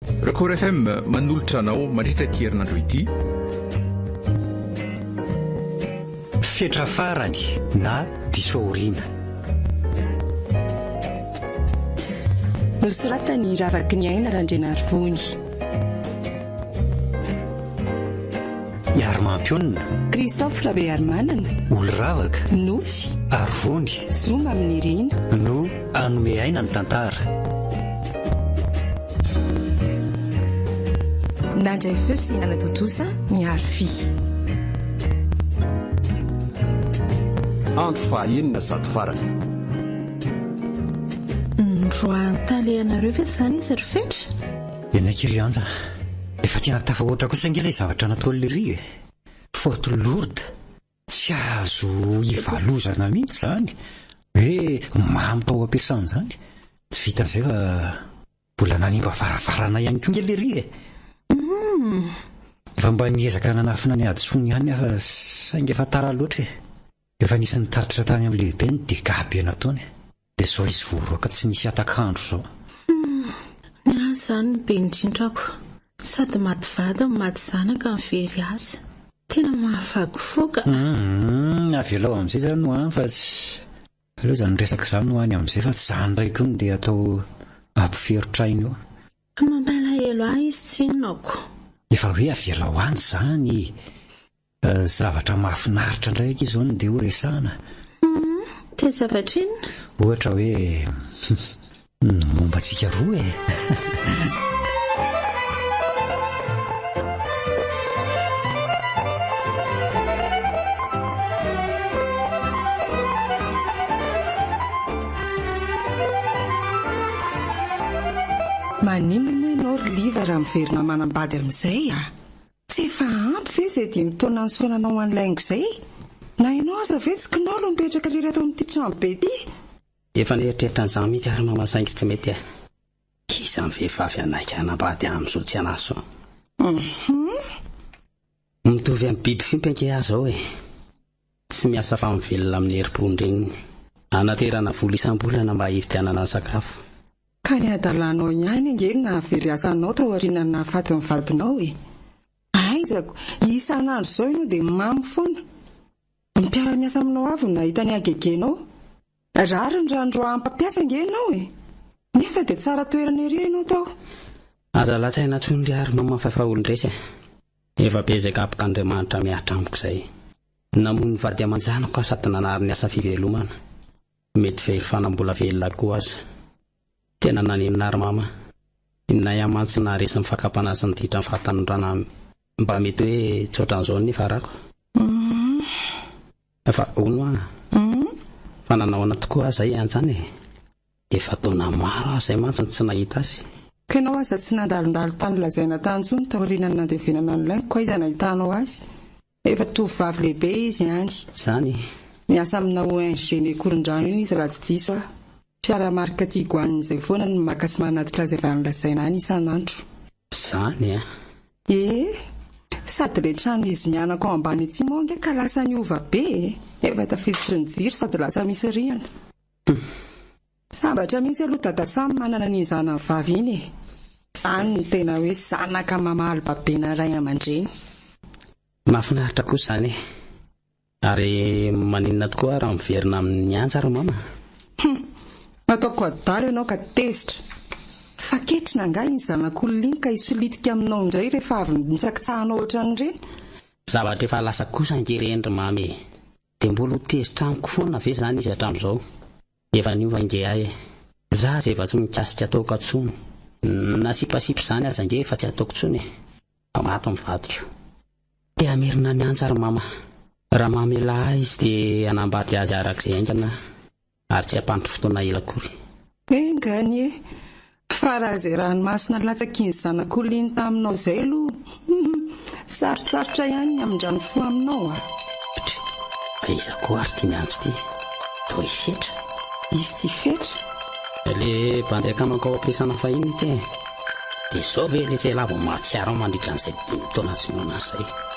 Record FM manolotra anao mandritra ity herinandro ity. Fetra farany na diso aoriana. Nosoratan'i Ravakiniaina Randrianarivony. Iarmampionona, Christophe Rabearimanana, Oloravaka, Nofy, Arivony, Zoma Aminirina, No. Hanome aina ny tantara. Nandray feo sy nanatontosa ny harfy. Andro fahaenina sady farany. Niroahan-tale ianareo ve izany izy ry Fetra? Enaiky ry Anja. Efa tena tafahoatra kosa ange ilay zavatra nataon'i Ry e. Faute lourde. Tsy azo ivalozana mihitsy izany hoe mamy tao am-piasana izany. Tsy vitan'izay fa mbola nanimba varavarana ihany koa kely ery e! Efa mba niezaka nanafina ny hadisoany ihany aho saingy efa tara loatra e! Efa nisy nitatitra tany amin'ny lehibeny dia gaga be nataony. Dia zao izy voaroaka tsy nisy hatak'andro zao. Humm ny ahy zany no be indrindrako sady maty vady no maty zanaka ny very azy tena mahafagifoka a! Humm avelao amizay zany ho any fa tsy aleo izany resaka zany ho any amizay fa tsy zany ndray koa no dia atao ampiferotraina eo. Fa mampalahelo ahy izy tsy inona ko. Efa hoe avelao any zany e! Zavatra mahafinaritra indray aky izao ny dia ho resahana. Humm, dia zavatra inona? Ohatra hoe, ny momba antsika roa e! Maninona moa ianao ry Liva raha miverina manambady amin'izay a! Tsy efa ampy ve izay dimy taona nisaonanao an'i Laingo izay? Na ianao aza ve tsy kinao no mipetraka irery ato amin'ity trano be ity? Efa nieritreritra an'izany mihitsy ary Mama saingy tsy mety e! Iza ny vehivavy hanaiky hanambady amin'izao tsy anahy izao? Hum. Mitovy amin'ny biby fiompy ange aho izao e! Tsy miasa fa mivelona amin'ny herim-pon-dreniny. Anaterana vola isam-bolana mba hividianana ny sakafo. Ka ny hadalanao ihany ange no nahavery asa anao taorianan'ny nahafatin'ny vadinao e! Aizako, isan'andro izao ianao dia mamy foana. Ny mpiara-miasa aminao avy no nahita ny hagegenao. Rariny raha androahan'ny mpampiasa ange ianao e! Nefa dia tsara toerana ery ianao tao. Aza lazaina tsony ry Ary Maman fa efa olon-draisy e! Efa be izay gabok'Andriamanitra mihatra amiko izay. Namoy ny vady aman-janako aho sady nanary ny asa fivelomana. Mety very fa na mbola velona koa aza. Tena naninona ary Mama? I Naya mantsy naharesy ny fakam-panahy sy ny ditran'ny fahatanorana mba mety hoe tsy ohatran'izao ny nifarako. Humm. Fa hono an! Fa nanao ahoana tokoa aza i Anjan e! Efa taona maro aho izay mantsy no tsy nahita azy. Ka ianao aza tsy nandalondalo tany lazaina tany intsony taorianan'ny nandevenana an'i Laingo ka aiza nahitanao azy? Efa tovovavy lehibe izy any. Izany e! Miasa amina ONG-n'ny Ankorondrano iny izy raha tsy diso aho. Mpiara-marika Tiguan izay foana no maka sy manatitra azy avy any lazaina any isan'andro. Zany an! Ee, sady ilay trano izy mianaka ao ambany etsy moa ange ka lasa niova be e! Efa tafiditry ny jiro sady lasa misy rihana. Humm. Sambatra mihitsy aloha Dada Sam manana an'iny zanany vavy iny e! Izany no tena hoe zanaka mamaly babena ray aman-dreny. Mahafinaritra kosa izany e! Ary maninona tokoa raha miverina amin'ny antsa ry mama? Hum! Ataoko adala ianao ka tezitra! Fa ketrina angaha iny zanak'olona iny ka hisolitika aminao indray rehefa avy nitsakitsahanao ohatran'ireny? Zavatra efa lasa kosa ange ireny ry mama e! Dia mbola ho tezitra amiko foana ve izany izy hatramin'izao? Efa niova nge ahy e! Za aza eva tsy mikasika ataoko atsony na sipasipa zany aza nge efa tsy ataoko tsony e! Fa maty ny vadiko! Te hamerina ny antsa ry mama! Raha mamelà ahy izy de hanambady azy arak'izay haingana aho ary tsy hampandry fotoana ela akory! Enga anie! Fa raha izay ranomasina nilatsakin'ny zanak'olona taminao izay aloha, humm, sarotsarotra ihany ny hamindrany fo aminao a! Ptry! Fa iza koa ary ity miantso ity? Toa i Fetra? Izy tsy Fetra? Ilay bandy akamanko ao am-piasana fahiny ity e! Dia izao ve ilay tsy hay lava mahatsiaro ahy mandritra an'izay dimy taona tsy noana azy izay?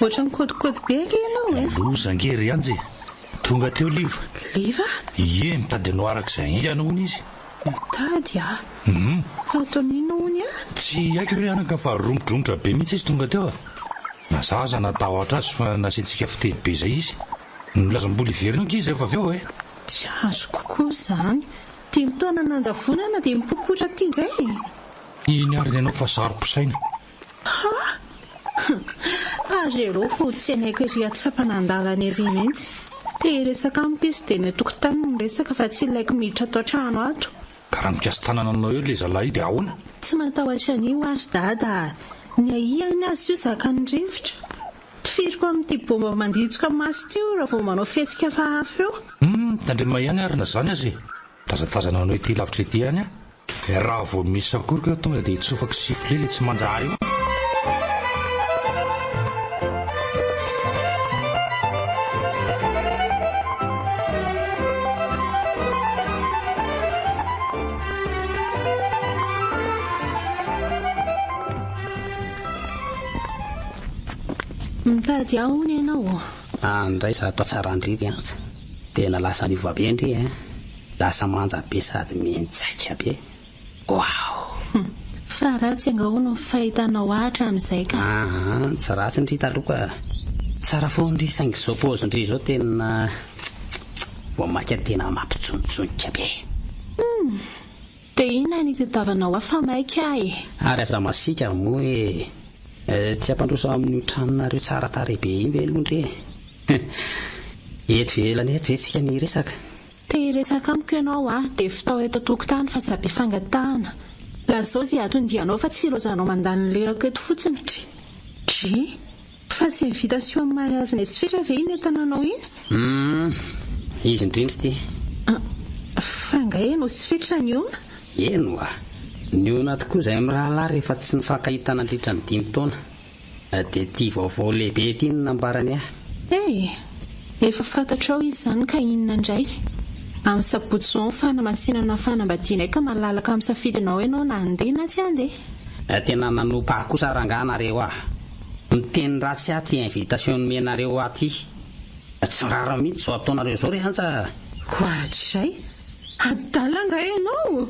Ohatra mikodikody be ange ianao e! Loza ange ry Anja e! Tonga teo Liva. Liva? Ie, mitady anao araka izay haingana hono izy. Mitady ah? Hum. Fa ataony inona hono ah? Tsy haiko re anaka fa romotromotra be mihitsy izy tonga teo ah. Na za aza natahotra azy fa nasiantsika fiteny be izay izy. Nilaza mbola hiverina ange izy rehefa avy eo eh. Tsy azoko koa izany. Dimy taona nanjavonana dia mipokotra aty indray e! Iny ary ny anao fa saro-pisaina. Hah! Ary ianao vao tsy hanaiky ery hatsapanandalana ery mihitsy. Te hiresaka amiko izy dia eny an-tokotany no miresaka fa tsy ilaiko miditra ato an-trano ato. Ka raha mikasa tanana aminao eo ilay zalahy io dia ahoana? Tsy matahotra an'io aho ry Dada a! Ny ahiany aza io zakan'ny rivotra. Tifiriko amin'ity baomba manditsoka maso ity io raha vao manao fihetsika hafahafa eo. Humm! Tandremo ihany ary na izany aza e! Tazatazanao anao ity lavitra ity ihany a! Raha vao misy sakoroka eo tonga dia hitsofako sifflet ilay tsy manjary eo. Mitady ahy hono ianao. Any indray za toa tsara ndridry an! Tena lasa miova be ndry eh! Lasa manja be sady mienjaika be! Waouh! Fa ratsy anga hono ny fahitanao ahy hatramin'izay ka! Aa tsy ratsy ndry taloha ka! Tsara foana ndry saingy izao pause ndry izao tena tsk tsk tsk! Vao maika tena mampijonijonika be! Humm! Te inona ny tadiavanao ahy fa maika ahy e. Ary aza masiaka moa e. Tsy ampandroso amin'io tranonareo tsara tarehy be iny ve Londry e? Eto ivelany eto ve tsika no hiresaka? Te hiresaka amiko ianao aho dia fitao eto an-tokotany fa za be fangatahana. Lazao izay hatondianao fa tsy ireo zanao mandany ny lerako eto fotsiny. Dry. Dry. Fa tsy invitation am mariage n'izy fitra ve iny atananao iny? Humm izy indrindra ity. Ah fa nga ianao sy fitra niona? Eny oa! Niona tokoa izay mirahalahy rehefa tsy nifankahita nandritra ny dimy taona. Dia ity vaovao lehibe ity no nambarany ahy. Hey! Efa fantatrao izy izany ka inona indray? Amin'ny sabotsy izao ny fanamasinana fanambadianay ka malalaka amin'ny safidinao ianao na handeha na tsy handeha. Tena nanompa ahy kosa rangahy nareo ah! Miteny ratsy aty invitation nomenareo aty. Tsy rariny mihitsy zao ataonareo zao re anja a. Koa hatrizay? Adala angaha ianao?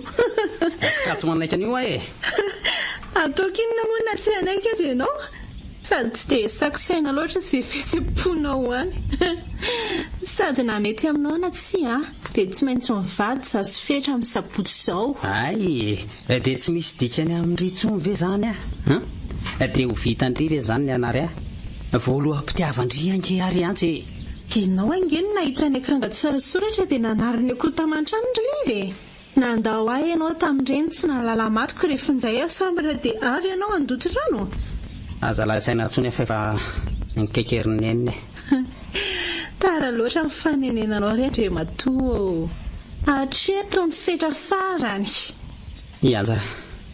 Ska tsy manaiky an'io aho e! Ataoko inona moa na tsy hanaiky aza ianao? Sady tsy dia sakosaina loatra izay fihetsem-ponao any. Sady na mety aminao na tsia dia tsy maintsy mivady za sy Fetra amin'ny sabotsy izao. Hay e! Dia tsy misy dikany amin-dry intsony ve izany an? An? Dia ho vitan-dry ve izany ny an'ary an? Voaloham-pitiavan-dry ange ary an-tsy e! Ianao ange no nahita ny akanga tsorasoratra dia nanary ny akoho taman-trano ry Liva e! Nandao ahy ianao tamin'ireny tsy nahalala matiko ry Finjay a! Sambatra dia avy ianao handoto rano? Aza lain-tsaina intsony an fa efa nikaikerin'i Neny e! Tara loatra ny fanenenanao ry Andriamatoa ô! Hatreto ny fetra farany! Ianja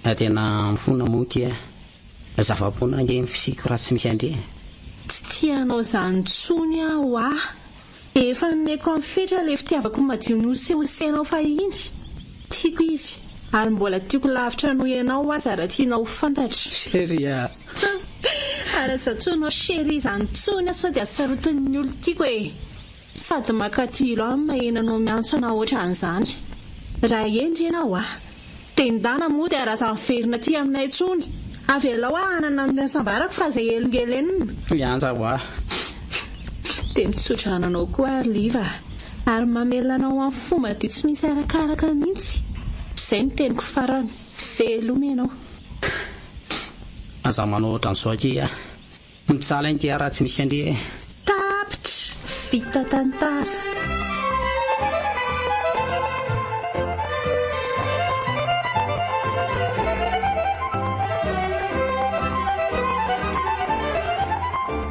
a! Tena mifona moa ity a! Zava-poana ange ny fisiako raha tsy misy andre e! Tsy tia anao izany intsony aho a! Efa nomeko amin'ny fetra ilay fitiavako madio nosehosehinao fahiny! Tiako izy, ary mbola tiako lavitra noho ianao aza raha tianao ho fantatra. Chérie ah. Ary aza atsoy anao chérie izany intsony aho sao dia sarotin'ny olon-tiako e. Sady makatilo ahy ny maheno anao miantso anà ohatran'izany. Raha hendry ianao ah. Dendana moa dia raza miverina aty aminay intsony. Avelao aho hanana ny hasambarako fa izay helingelenina. Mianja ho ahy. Dia mitsodrano anao koa ary liva ah. Ary mamelona anao amin'ny fo madio tsy misy arakaraka mihitsy. Izay no teniko farany. Veloma ianao. Aza manao ohatran'izao akia a. Ny mpisala inty a raha tsy misy an'dry e. Tapitra! Vita tantara.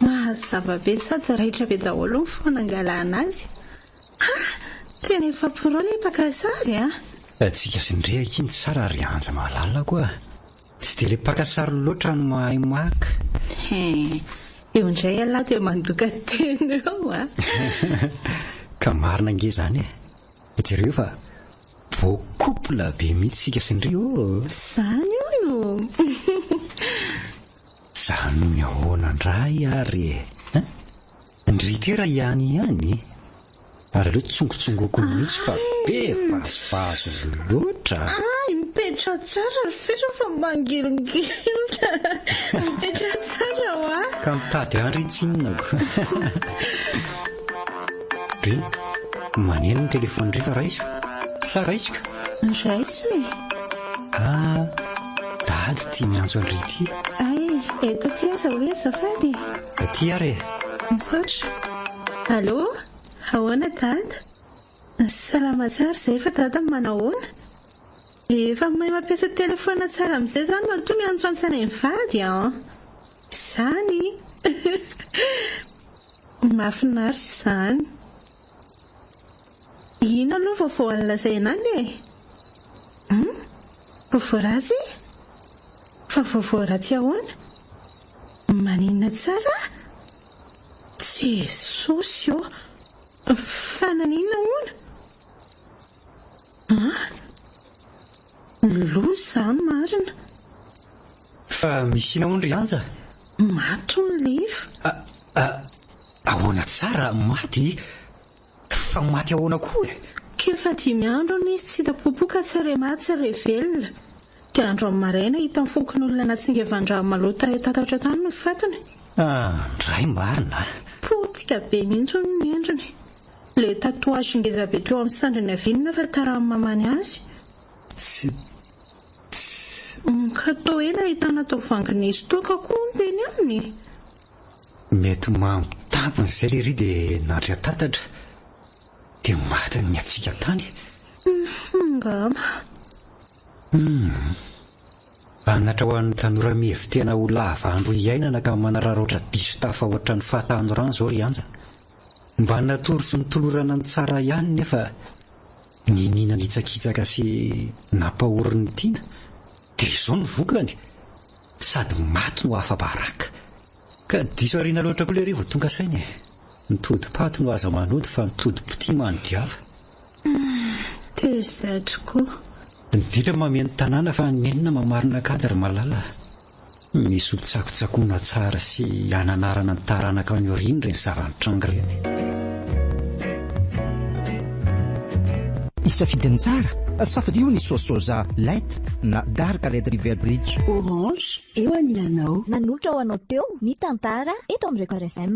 Mazava be sady raitra be daholo ny fomba nangalana azy. Ha! Tena efa pro le mpaka sary a! Tsika sy ny rehaka iny tsara ry Anja malala ko a! Tsy dia le mpaka sary loatra no mahay maka. He! Eo indray ialahy dia mandoka tena eo a! Ka marina ange izany e! Jereo fa beau couple be mihitsy isika sy Ndry ô! Zany hono Zany hono ahoana ndray ary e! Hein? Ndry tera ihany ihany e! Ary aleo tsongotsongoko mihitsy fa be vazivazy loatra! Ay, mipetraha tsara ry Fera fa mangilingilinna! Mipetraha tsara ho'a! Ka mitady andry tsinona ko! Be, maneno ny telefaony indray fa raiso sa raiso ka? Raiso e! Ah, dady ity miantso an-dry ity. Ay, eto aty aza hoe azafady e! Aty ary e! Misaotra. Allô? Ahoana dada? Salama tsara izay fa dada manao ahoana? Efa mahay mampiasa telefona tsara amizay zany matoa miantso antsana hivady an! Izany! Mahafinaritra izany! Ino aloha vaovao alazaina any e? Hum? Vaovao ratsy? Fa vaovao ratsy ahoana? Maninona tsara? Jesosy ô! Fa naninona hono? Ah! Loza za marina. Fa misy inona hono ry Anja? Maty hono Leif. A, a, ahoana tsara maty? Fa maty ahoana koa e? Kely fa dimy andro hono izy tsy hita popoka tsy re maty tsy re velona. Dia andro amin'ny maraina hitan'ny fokonolona natsingevan-drano maloto tarehy tatatra tany no fatiny. Ah, ndray marina a! Potika be mihitsy hono ny endriny. Le tatouage ngeza be teo am sandriny avy inona fa karaha mamany azy? Tsy Mka toa ela ahitana atao vangin'izy toa ka koa hono eny aminy e! Mety mambo tampony zay lery dia nandry an-tatatra dia maty niatsika tany e! Hum, angamba. Hum. Anatra ho an'ny tanora mihevi-tena ho lava andro hiainana ka manararaotra diso tafahoatra ny fahatanorany izao ry Anja. Mba natory sy notolorana ny tsara ihany nefa niniana nitsakitsaka sy nampahory ny tiana dia izao ny vokany, sady maty no afa-baraka. Ka diso ariana loatra koa lery vao tonga saina e! Ny todi-paty no aza manody fa ny todi-pitia manodiava. Tezatry koa. Ny ditra mameno tanàna fa ny enina mamarina cadre malala. Misy ho tsakotsakoina tsara sy hananarana ny taranaka any aoriana ireny zava-nitranga ireny. Hisafidy ny tsara? Safidio ny soa soja light na dark red river bridge. Orange, Eo anilanao. Nanolotra ho anao teo ny tantara eto amin'ny Record FM.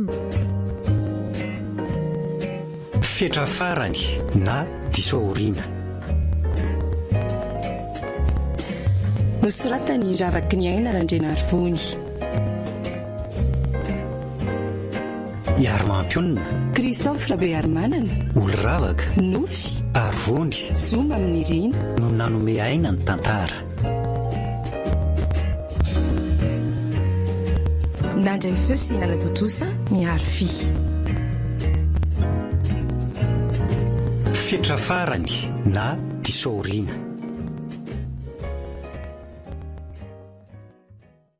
Fetra farany na diso aoriana. Nosoratan'i Ravaky ny Aina Randrianarivony. Iarmampionona. Christophe Rabearimanana. Oloravaka. Nofy. Arivony. Zoma amin'ny Rina. No nanome aina ny tantara. Nandry ny feo sy nanatontosa ny arfi. Fetra farany na diso aoriana.